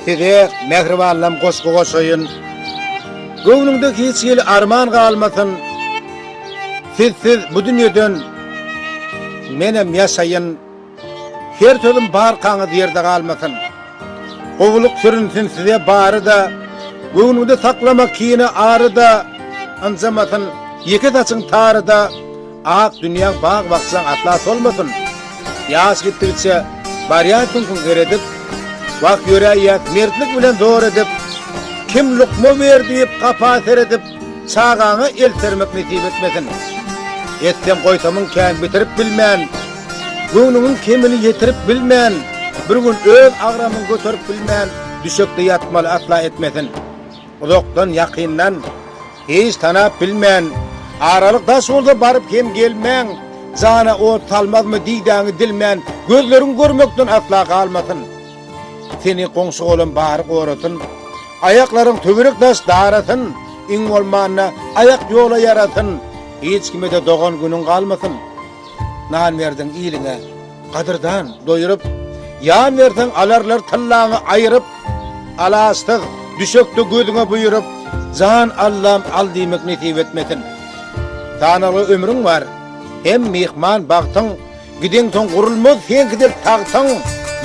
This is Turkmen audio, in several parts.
Size mähribanlam goşgy goşaýyn. Göwnüňde hiç hili arman galmasyn. Siz siz bu dünýeden menem ýaşaýyn. Her sözüm barkaňyz ýerde galmasyn. Gowulyk sürünsin size bary-da. Göwnüňde saklama kini ary-da. Ynjamasyn ýeke saçyň tary-da. Ak dünýäň bag-bakjaň asla solmasyn! Ýaş gitdigiçe barýar süňküň zeredip, Wah, ýöräýýäs mertlik bilen zor edip, Kim lukma ber diýip, gapa seredip, Çagaňa el sermek nesip etmesin! Etsem goýsamyň kän bitirip bilmen, Göwnüňiň kemini ýetirip bilmen, Bir gün öz agramyň göterip bilmen, Düşekde ýatmaly asla etmesin! Uzakdan, ýakyndan. Hiç tanap bilmen, Aralyk daş bolsa baryp hem gelmen, Jana ot salmazmy didäňi dilmen, Gözleriň görmekden asla galmasyn. Seni goňşy-golam bary gorasyn, Aýaklaryň töwerek daş darasyn, Iň bolmanda, aýak ýola ýarasyn, Hiç kime-de dogan-günüň galmasyn. Nan berdiň iliňe. Gadyrdan, doýuryp, ýan berseň alarlar tyllaňy aýyryp, Alaçsyz, düşekde gözüňe buýuryp, jan allam al diýmek nesip etmesin. Sanagly ömrüň bar, hem myhman bagtyň, gideňsoň gurulmaz seňkidir tagtyň,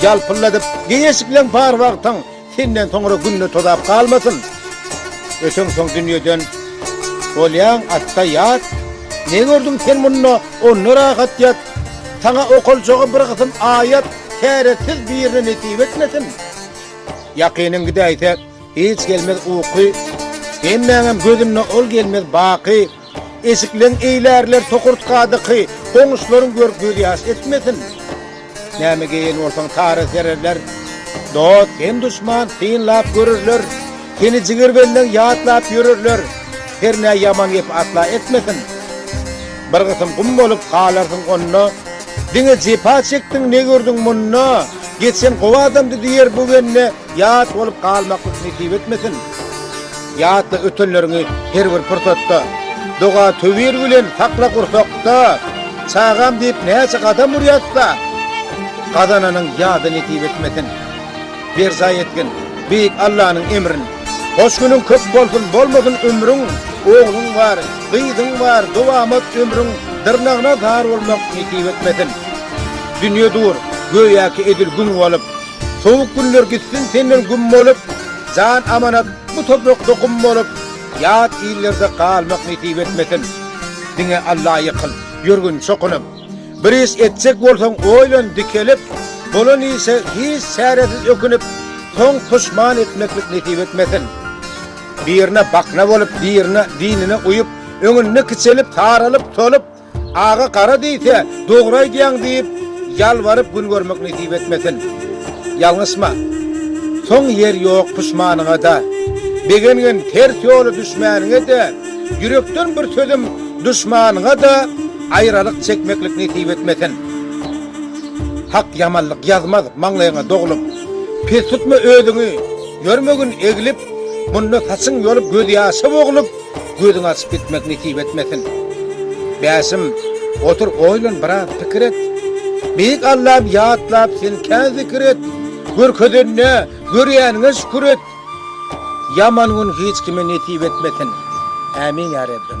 ýalpylladyp, geýeşikleň par wagtyň, Senden soňra günde tozap galmasyn, Öten soň dünýeden bolýaň atda ýat, Ne gördüň sen munda, onda rahat ýat, Saňa okaljagy bir gysym aýat, Täretsiz birine nesip etmesin. Ýakynyň gidäýse, hiç gelmez uky, Hemmäňem gözünde ol gelmez baky. Eşikleň eýlärler tokurtkadaky goňşularyň görüp gözýaş etmesin. Näme geýen bolsaň tara sererler. Dost hem duşman synlap görerler. Seni jigir benden ýatlap ýörerler. Hernä ýaman gep asla etmesin. Bir gysym gum bolup galarsyň onda. Diňe jepa çekdiň ne gördüň munda. Geçen gowy adamdy diýer bu bende. Ýat bolup galmaklyk nesip etmesin! Ýatla ötenleriňi her bir pursatda, Doga-töwir bilen sakla gursakda, Çagam diýip näçe gadam urýas-da, Gazananyň ýada nesip etmesin! Berjaý etgin Beýik Allanyň emrin, Hoş günüň köp bolsun, bolmasyn ömrüň, Ogluň bar, gyzyň bar, dowamat ömrüň, Dyrnagyna zar bolmak nesip etmesin! Dünýe dur, göýäki edil gün bolup, Sowuk günler gitsin senden güm bolup, Jan amanat bu toprakda gum bolup, Ýat illerde galmak nesip etmesin. Diňe Alla ýykyl, ýörgün çokunyp. Bir iş etjek bolsaň oýlan dikelip, Bolan işe hiç çäresiz ökünip, Soň puşman etmeklik nesip etmesin. Birine bakna bolup, birine dinine uýup, Öňünde kiçelip, saralyp, solup, Aga gara diýse, dogry aýdýaň diýip, ýalbaryp gün görmek nesip etmesin. Ýalňyşma. Soň ýer ýok puşmanyňa-da. Begengen ters ýola düşmäniňe-de, ýürekden bir sözüm duşmanyňa-da aýralyk çekmeklik nesip etmesin. Hak ýamanlyk ýazmaz maňlaýyňa doglum. Pes tutma özüňi, ýörme gün eglip, munda saçyň ýolup gözýaşa boglup. Gözüňi açyp gitmek nesip etmesin. Bäşim, otur oýlan biraz pikir et. Beýik Allam ýatlap sen kä zikir et. Görkezenine, görýäniňe şükür et. Ýaman gün hiç kime nesip etmesin. Ämin ýa Rebbim.